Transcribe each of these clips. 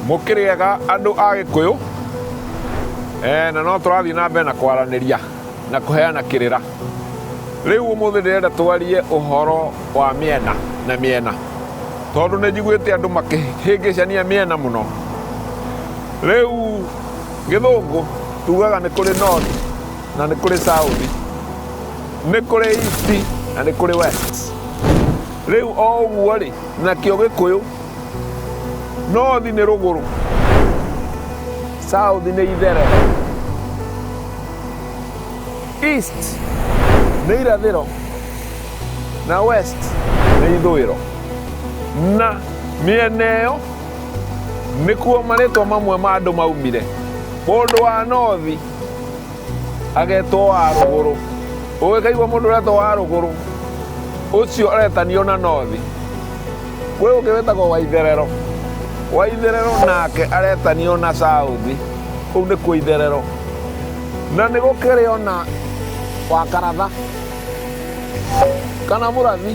mũkĩrĩega andũ a gĩkũyũ eh, na no tũrathiĩ na mbere na kwaranĩria na kũheana kĩrĩra rĩu ũmũthĩ ndĩrenda twarie ũhoro wa mĩena na mĩena tondũ nĩ njiguĩte andũ makĩhĩngĩcania mĩena mũno rĩu Gĩthũngũ tugaga nĩ kũrĩ north na nĩ kũrĩ south, nĩ kũrĩ east na nĩ kũrĩ west. Rĩu o ũguo rĩ, nakĩo Gĩkũyũ north nĩ rũgũrũ, south nĩ ithere, east nĩ irathĩro na west nĩ ithũĩro na mĩena ĩyo Nĩkuo marĩtwa mamwe ma andũ maumire. Mũndũ wa nothi agetwo wa rũgũrũ. Ũgĩkaigua mũndũ ũretwo wa rũgũrũ, ũcio aretanio na nothi. Kwĩ ũngĩ wĩtagwo wa itherero. Wa itherero nake aretanio na sauthi. Kũu nĩkuo itherero. Na nĩ gũkĩrĩ ona wa karatha kana mũrathi.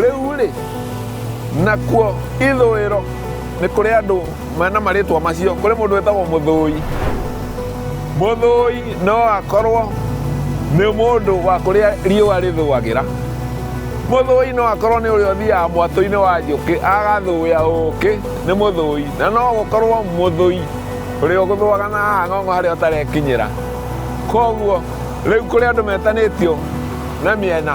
Rĩu-rĩ, nakuo ithũĩro nĩ kũrĩ andũ mena marĩtwa macio kũrĩ mũndũ wĩtagwo mũthũi mũthũi no akorwo nĩ mũndũ wa kũrĩa riũa rĩthũagĩra mũthũi no akorwo nĩ ũrĩa ũthiaga mwatũ-inĩ wa njũkĩ agathũya ũkĩ nĩ mũthũi na no gũkorwo mũthũi ũrĩa ũgũthũaga na haha ng'ong'o harĩa ũtarekinyĩra koguo rĩu kũrĩ andũ metanĩtio na mĩena